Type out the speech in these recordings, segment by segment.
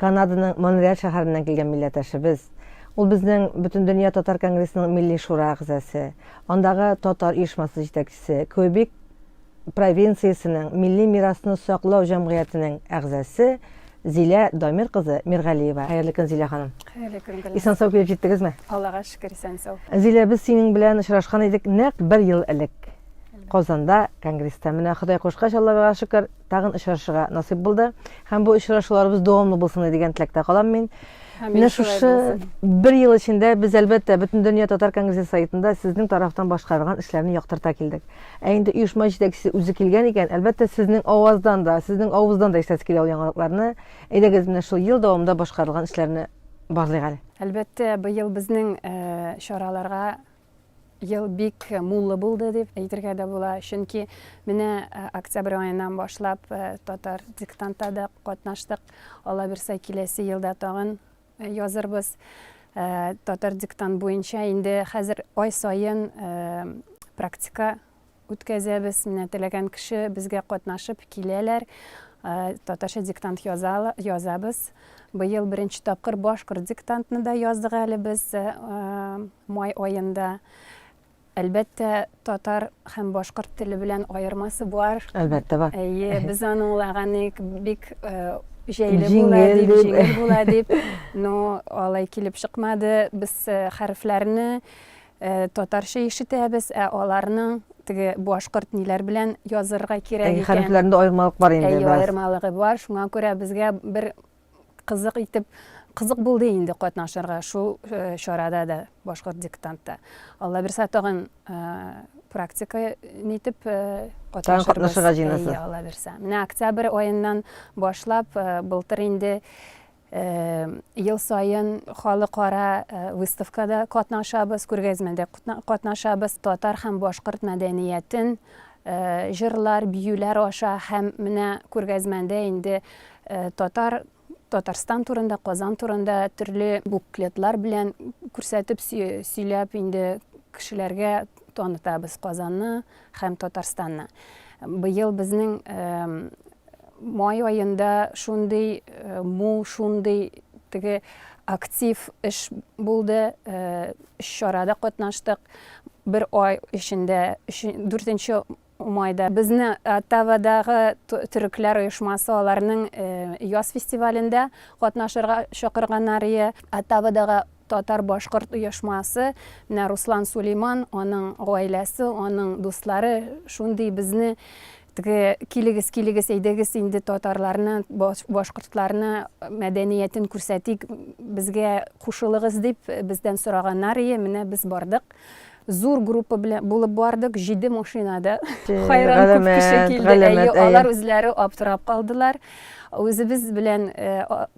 Канаданың Монреаль шәһәреннән килгән милләтәшебез. Ул безнең Бөтендөнья татар конгрессының Милли шура әгъзасе, андагы татар оешмасы җитәкчесе, Квебек провинциясенең Милли мирасны саклау җәмгыятенең әгъзасе Зилә Дамир кызы Миргалиева. Хәерле көн, Зилә ханым. Хәерле көн, Гөлназ. Исән-сау килеп җиттегезме? Аллага шөкер, исән-сау. Зилә, без синең белән очрашкан идек нәкъ бер ел элек. Казанда, конгресста. Менә Ходай кушкач, Аллага шөкер, Тагын очрашырга насыйп булды. Һәм бу очрашуларыбыз дәвамлы булсын дигән теләктә калам мин. Менә шушы бер ел эчендә без әлбәттә бөтен дөнья татар конгрессы сайтында сезнең тарафтан башкарылган эшләрне яктырта килдек. Ә инде оешма җитәкчесе үзе килгән икән, әлбәттә сезнең аваздан да, сезнең авыздан да ишетәсе килә ул яңалыкларны. Әйдәгез менә шул ел дәвамында башкарылган эшләрне барлыйк әле. Әлбәттә, быел безнең э, чараларга Ел бик муллы булды дип әйтергә дә була, чөнки менә октябрь аеннан башлап татар диктантта да катнаштык, алабирса киләсе елда тагын язырбыз. Татар диктант буенча инде хәзер ай саен практика үткәзәбез. Менә теләгән кеше безгә катнашып киләләр, татарча диктант язабыз. Быел беренче тапкыр башкорт диктантны да яздык әле без май аенда. Әлбәттә, татар һәм башкорт теле белән аермасы бар. Әлбәттә бар. Әйе, без аны улаганык бик җәйле була дип, җиңел була дип, но алай килеп чыкмады. Без хәрефләрне Татарча ишетәбез, ә аларның теге башкорт ниләр белән язырга кирәк икән. Хәрефләрендә аермалык бар инде. Әйе, аермалыгы бар. Шуңа күрә безгә бер кызык итеп кызык булды инде катнашырга шул э, чарада да башкорт диктантта алла бирса тагын э, практика нитеп э, катнашырга җыенасыз алла бирса менә октябрь аеннан башлап былтыр инде Ел саен халыкара выставкада катнашабыз, күргәзмәдә катнашабыз. Татар һәм башкорт мәдәниятен җырлар, биюләр аша һәм менә күргәзмәдә инде татар Татарстан турында, Казан турында төрле буклетлар белән күрсәтеп, сөйләп инде кешеләргә танытабыз Казанны, Һәм Татарстанны. Быел безнең май аенда шундый мул, шундый теге актив эш булды. Өч чарада катнаштык. Бер ай эчендә, дүртенче майда безне Оттавадагы төрекләр оешмасы аларның яз фестивалендә катнашырга чакырганнар ие. Оттавадагы Татар-башкорт оешмасы, менә Руслан Сулейман, аның гаиләсе, аның дуслары шундый безне теге килегез, килегез, әйдәгез инде татарларны, башкортларны мәдәниятен күрсәтик, безгә кушылыгыз дип бездән сораганнар ие, менә без бардык. Зур группа белән булып бардык, җиде машинада. Хайран күп кеше килде, әйе, алар үзләре аптырап калдылар. Үзебез белән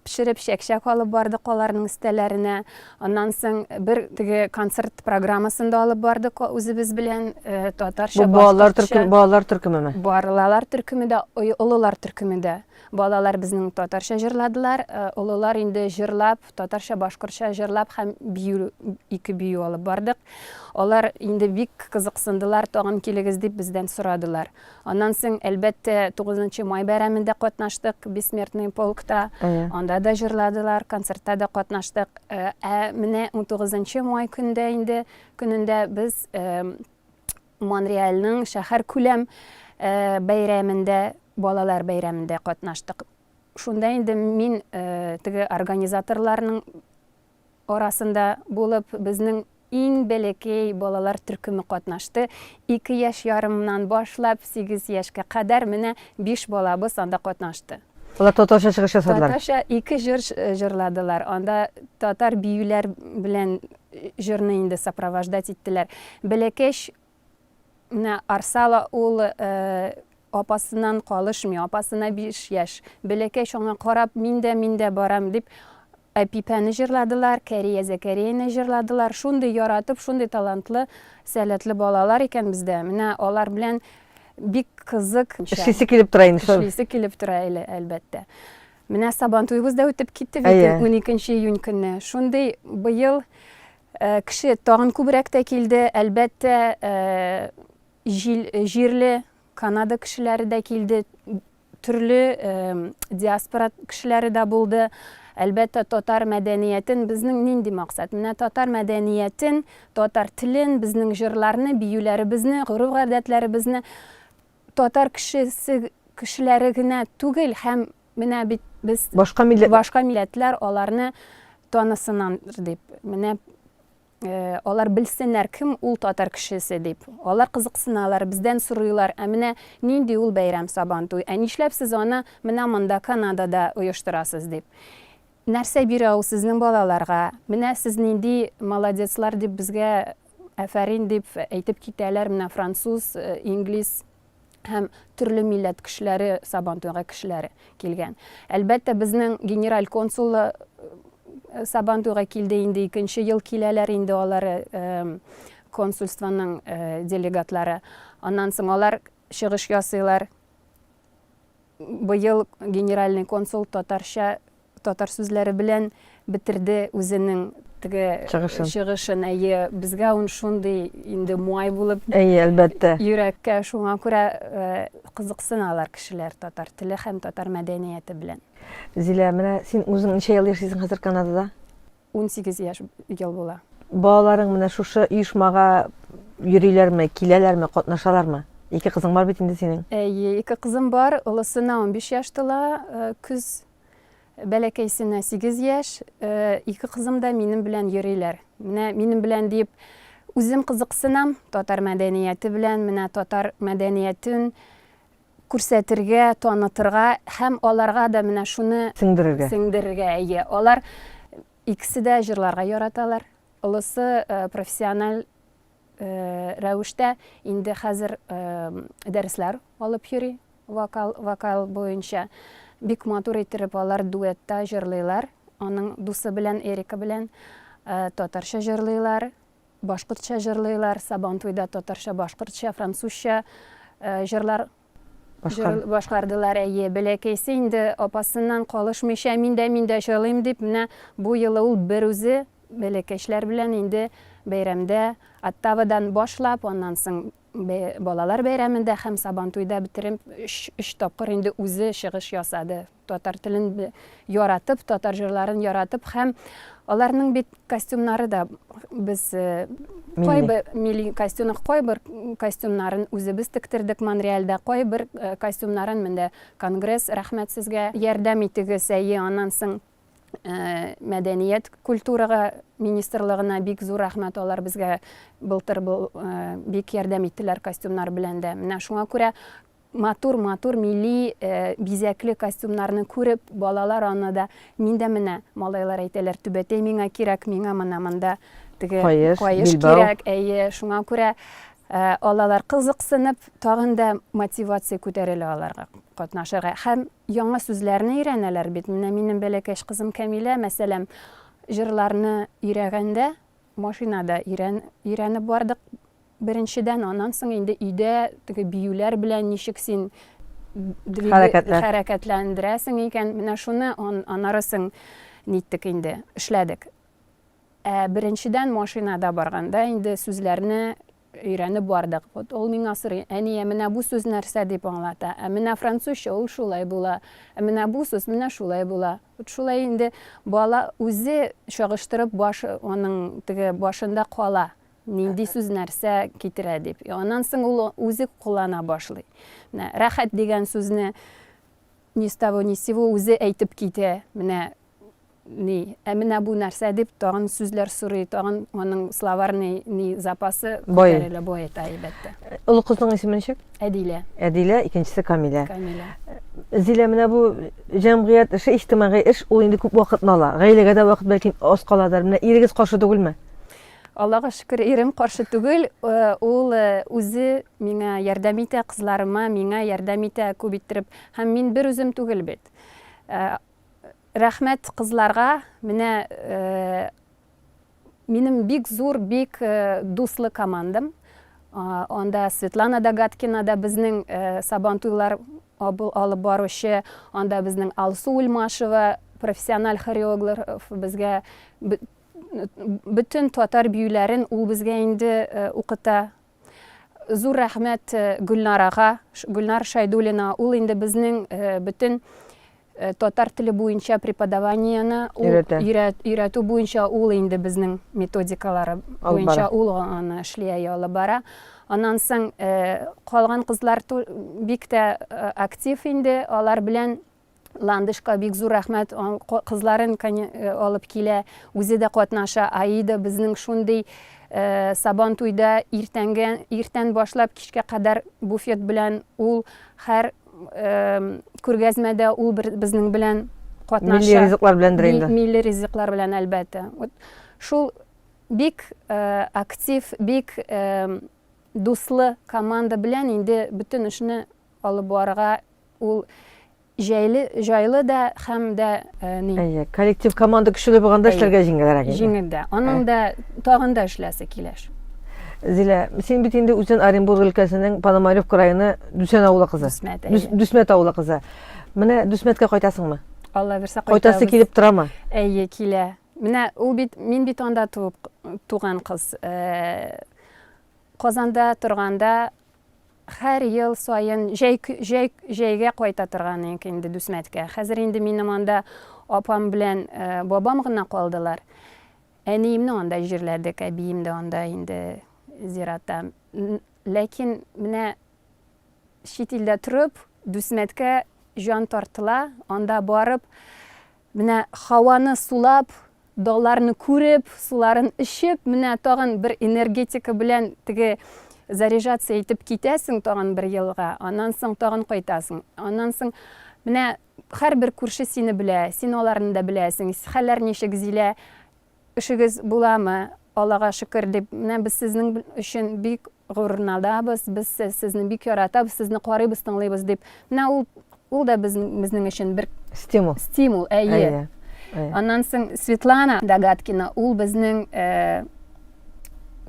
пешереп чәк-чәк алып бардык аларның өстәләренә. Аннан соң бер теге концерт программасын да алып бардык үзебез белән татарча. Бу балалар төркеме, балалар төркемеме? Балалар төркеме дә, олылар төркеме дә. Балалар безнең татарча җырладылар, олылар инде җырлап, Татарча-башкортча җырлап һәм бию, ике бию алып бардык. Алар инде бик кызыксындылар, тагын килегез дип бездән сорадылар. Аннан соң, әлбәттә, 9 май бәйрәмендә катнаштык, Бессмертный полкта. Анда да җырладылар, концертта да катнаштык. Ә менә 19 май көндә инде, көнендә без Монреальның шәһәр күләм бәйрәмендә, балалар бәйрәмендә катнаштык. Шунда инде мин теге организаторларның арасында булып, безнең иң бәләкәй балалар төркеме катнашты. Ике яшь ярымнан башлап, сигез яшькә кадәр менә биш балабыз анда катнашты. Алар татарча чыгыш ясадылар. Татарча ике җыр җырладылар. Анда татар биюләр белән җырны инде сопровождать иттеләр. Бәләкәч Менә Арсала ул апасыннан калышмый, апасына биш яшь. Бәләкәй шуңа карап, мин дә, мин дә барам, дип Әпипәне җырладылар, Кәрия Зәкәрияне җырладылар. Шундый яратып, шундый талантлы, сәләтле балалар икән бездә. Менә алар белән бик кызык. Эшлисе килеп тора инде шул. Эшлисе килеп тора әле, әлбәттә. Менә Сабантуебыз да үтеп китте бит 12 июнь көнне. Шундый быел Э, кеше тагын күбрәк тә килде әлбәттә э, җирле канада кешеләре дә килде төрле э, диаспора кешеләре дә булды әлбәттә татар мәдәниятен безнең нинди максат менә татар мәдәниятен татар телен безнең җырларны биюләребезне гореф гадәтләребезне татар кешесе кешеләре генә түгел һәм Менә бит без башка милләт башка милләтләр аларны танысыннан дип. Менә э, алар белсеннәр кем ул татар кешесе дип. Алар кызыксыналар, бездән сорыйлар, ә менә нинди ул бәйрәм Сабан туй? Ә нишләп сез аны менә монда Канадада оештырасыз дип. Нәрсә бирә ул сезнең балаларга? Менә сез нинди молодецлар дип безгә әфәрин дип әйтеп китәләр. Менә француз, э, инглиз һәм төрле милләт кешеләре, Сабантуйга кешеләре килгән. Әлбәттә, безнең генераль консулы э, Сабантуйга килде инде икенче ел киләләр инде алар э, консульствоның э, делегатлары. Аннан соң алар чыгыш ясыйлар. Быел генеральный консул татарча Татар сүзләре белән бетерде үзенең теге чыгышын. чыгышын. Әйе, безгә ун шундый инде муай булып. Әйе, әлбәттә. Йөрәккә шуңа күрә э, кызыксыналар кешеләр татар теле һәм татар мәдәнияте белән. Зилә, менә син үзең ничә ел яшисең хәзер Канадада? 18 яшь ел була. Балаларың менә шушы оешмага йөриләрме, киләләрме, катнашалармы? Ике кызың бар бит инде синең. Әйе, ике кызым бар. Олысына 15 яшь тула, э, көз Бәләкәйсенә сигез яшь, ике кызым да минем белән йөриләр. Менә минем белән диеп үзем кызыксынам татар мәдәнияте белән, менә татар мәдәниятен күрсәтергә, танытырга һәм аларга да менә шуны сеңдерергә. Сеңдерергә, әйе. Алар икесе дә җырларга яраталар. Олысы профессиональ рәвештә инде хәзер дәресләр алып йөри вокал вокал буенча бик матур иттереп алар дуэтта җырлыйлар аның дусы белән эрика белән татарча җырлыйлар башкортча җырлыйлар сабантуйда татарча башкортча французча җырлар Башкар. Башкардылар, әйе. Бәләкәйсе инде апасыннан калышмыйча, мин дә, мин дә җырлыйм дип, менә бу елы ул берүзе бәләкәчләр белән инде бәйрәмдә, Оттавадан башлап, аннан соң балалар бәйрәмендә һәм Сабантуйда бетереп өч тапкыр инде үзе чыгыш ясады. Татар телен яратып, татар җырларын яратып һәм аларның бит костюмнары да без кайбер милли костюмны кайбер костюмнарын үзебез тектердек Монреальдә, кайбер костюмнарын менде конгресс рәхмәт сезгә ярдәм итегез, әйе, аннан соң Э, мәдәният культурага министрлыгына бик зур рәхмәт алар безгә былтыр э, бик ярдәм иттеләр костюмнар белән дә менә шуңа күрә Матур матур милли бизәкле костюмнарны күреп, балалар аны да, мин дә менә, малайлар әйтәләр, түбәтәй миңа кирәк, миңа мына монда теге каеш кирәк, әйе, шуңа күрә алалар кызыксынып, тагын да мотивация күтәрелә аларга катнашырга. Һәм яңа сүзләрне өйрәнәләр бит. Менә минем бәләкәч кызым Камилә, мәсәлән, җырларны өйрәгәндә, машинада өйрәнеп бардык, Беренчедән, аннан соң инде өйдә теге биюләр белән ничек син хәрәкәтләндерәсең икән, менә шуны аннары соң ниттек инде, эшләдек. Ә беренчедән машинада барганда инде сүзләрне өйрәнеп бардык. Вот ул миңа сорый, әние, менә бу сүз нәрсә дип аңлата? Ә менә французча ул шулай була. Ә менә бу сүз менә шулай була. Вот шулай инде бала үзе чагыштырып баш, аның теге башында кала. Нинди сүз нәрсә китерә дип. Аннан соң ул үзе куллана башлый. Менә рәхәт дигән сүзне ни с того ни с сего үзе әйтеп китә. Менә ни, ә менә бу нәрсә дип тагын сүзләр сорый, тагын аның словарный ни запасы күтәрелә, баета, әлбәттә. Олы кызның исеме ничек? Әдилә. Әдилә, икенчесе Камилә. Камилә. Зилә, менә бу җәмгыять эше, иҗтимагый эш, ул инде күп вакытны ала. Гаиләгә дә вакыт бәлки аз каладыр. Менә ирегез каршы түгелме? Аллага шөкер, ирем каршы түгел, ул үзе миңа ярдәм итә, кызларыма, миңа ярдәм итә күп иттереп. Һәм мин бер үзем түгел бит. Рәхмәт кызларга, менә минем бик зур, бик дуслы командам. Анда Светлана Догаткина да безнең Сабан туйлар алып баручы, анда безнең Алсу Ульмашева, профессиональ хореограф, безгә Бөтен татар биюләрен ул безгә инде укыта. Зур рәхмәт Гөлнарага, Гөлнар Шайдулина. Ул инде безнең бөтен татар теле буенча преподаваниены өйрәтү буенча ул инде безнең методикалары буенча ул аны эшли алып бара. Аннан соң калган кызлар бик тә актив инде, алар белән Ландышка бик зур рәхмәт, кызларын э, алып килә, үзе дә катнаша. Аида безнең шундый э, сабан туйда иртәнгә, иртән башлап кичкә кадәр буфет белән ул һәр э, күргәзмәдә ул бер, безнең белән катнаша. Милли ризыклар белән инде. Милли ризыклар белән әлбәттә. Вот шул бик э, актив, бик э, дуслы команда белән инде бөтен эшне алып барырга Ул җәйле, җайлы да һәм дә ни? Әйе, коллектив команда көчле булганда эшләргә җиңелрәк. Җиңел дә. Аның да тагын да эшләсе киләш. Зилә, син бит инде үзен Оренбург өлкәсенең Пономарев крайына Дүсән авылы кызы. Дүсмәт. Дүсмәт авылы кызы. Менә Дүсмәткә кайтасыңмы? Алла бирсә кайтабыз. Кайтасы килеп торамы? Әйе, килә. Менә ул бит мин бит анда туып туган кыз. Казанда торганда Хәр ел саен җәй җәй җәйгә кайта торган идек инде Дүсмәткә. Хәзер инде минем анда апам белән бабам гына калдылар. Әниемне анда җирләдек, әбием дә анда инде зиратта. Ләкин менә чит илдә торып, Дүсмәткә җан тартыла, анда барып, Менә һаваны сулап, далларны күреп, суларын эчеп, менә тагын бер энергетика белән теге заряжаться итеп китәсең тагын бер елга, аннан соң тагын кайтасың. Аннан соң менә һәрбер күрше сине белә, син аларны да беләсең. Хәлләр ничек, Зилә? Эшегез буламы? Аллага шөкер, дип, менә без сезнең өчен бик горурланабыз, без сезне бик яратабыз, сезне карыйбыз, тыңлыйбыз, дип, менә ул, ул да безнең өчен бер стимул. Стимул, әйе. Аннан соң Светлана Догаткина, ул безнең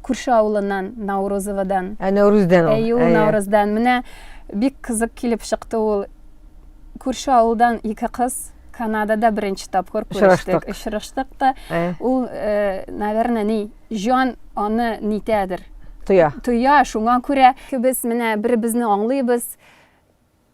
күрше авылыннан наурызовадан ә нәүрүздән әйе ул наурыздан менә бик кызык килеп чыкты ул күрше авылдан ике кыз канадада беренче тапкыр күрештек очраштык та ул э, наверное ни җан аны нитәдер тоя тоя шуңа күрә без менә бер безне аңлыйбыз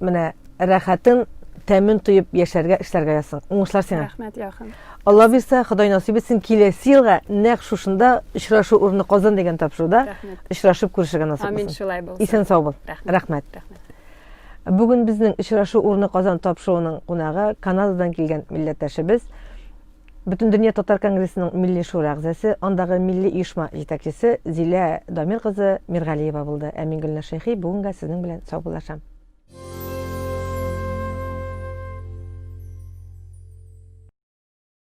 Менә рәхәтен, тәмен тоеп яшәргә, эшләргә язсын. Уңышлар сиңа. Рәхмәт, Яхын. Алла бирсә, Ходай насыйп итсен, киләсе елга нәкъ шушында очрашу урыны Казан дигән тапшыруда очрашып күрешергә насыйп булсын. Амин, шулай булсын. Исән сау бул. Рәхмәт. Рәхмәт. Бүген безнең очрашу урыны Казан тапшыруының кунагы Канададан килгән милләттәшебез Бөтендөнья татар конгрессының Милли шура әгъзасы, андагы милли оешма җитәкчесе Зилә Дамир кызы Миргалиева булды. Ә мин Гөлназ Шәйхи бүгенгә сезнең белән саубуллашам.